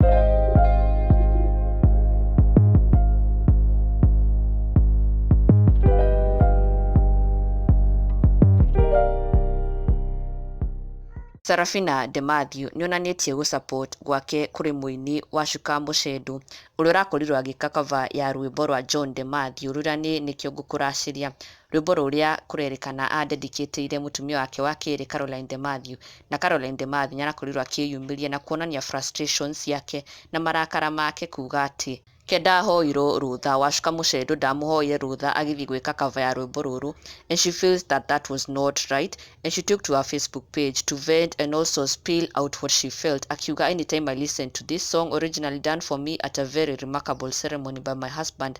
Sarafina De Mathew nĩonanĩtie gũ support gwake kũrĩ mũini wa Shuka Mũcendu ũrĩa ũrakorirwo agĩka cover ya rwĩmbo rwa John De Mathew rũrĩa nĩ Nĩkĩo Ngũkũracĩria Rwĩmbo rũrĩa kũrerĩkana aandedikĩtĩire mũtumia wake wa kerĩ Caroline De Matthew. Na Caroline De Matthew nĩarakorirwo akĩyumĩria na kuonania frustrations ciake na marakara make kuuga atĩ, Ke ndahoirwo rũtha, Wacuka Mũcendo ndamũhoire rũtha agĩthiĩ gwĩka cover ya rwĩmbo rũrũ and she feels that that was not right and she took to her Facebook page to vent and also spill out what she felt akiuga anytime I listen to this song originally done for me at a very remarkable ceremony by my husband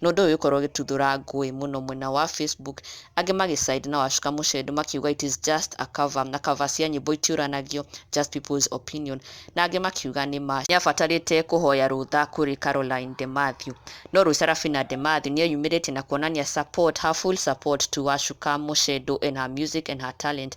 na ũndũ ũyũ ũgĩkorwo ũgĩtuthũra ngũĩ mũno mwena wa Facebook, angĩ magĩ side na Wacuka Mũcendo makiuga it is just a cover na cover cia nyĩmbo itiũranagio, just people's opinion, na angĩ makiuga nĩ ma nĩabatarĩte kũhoya rũtha kũrĩ Caroline De Mathew. No rĩu Sarafina De Mathew nĩeyumĩrĩtie na kuonania support, her full support to Wacuka Mũcendo and her music and her talent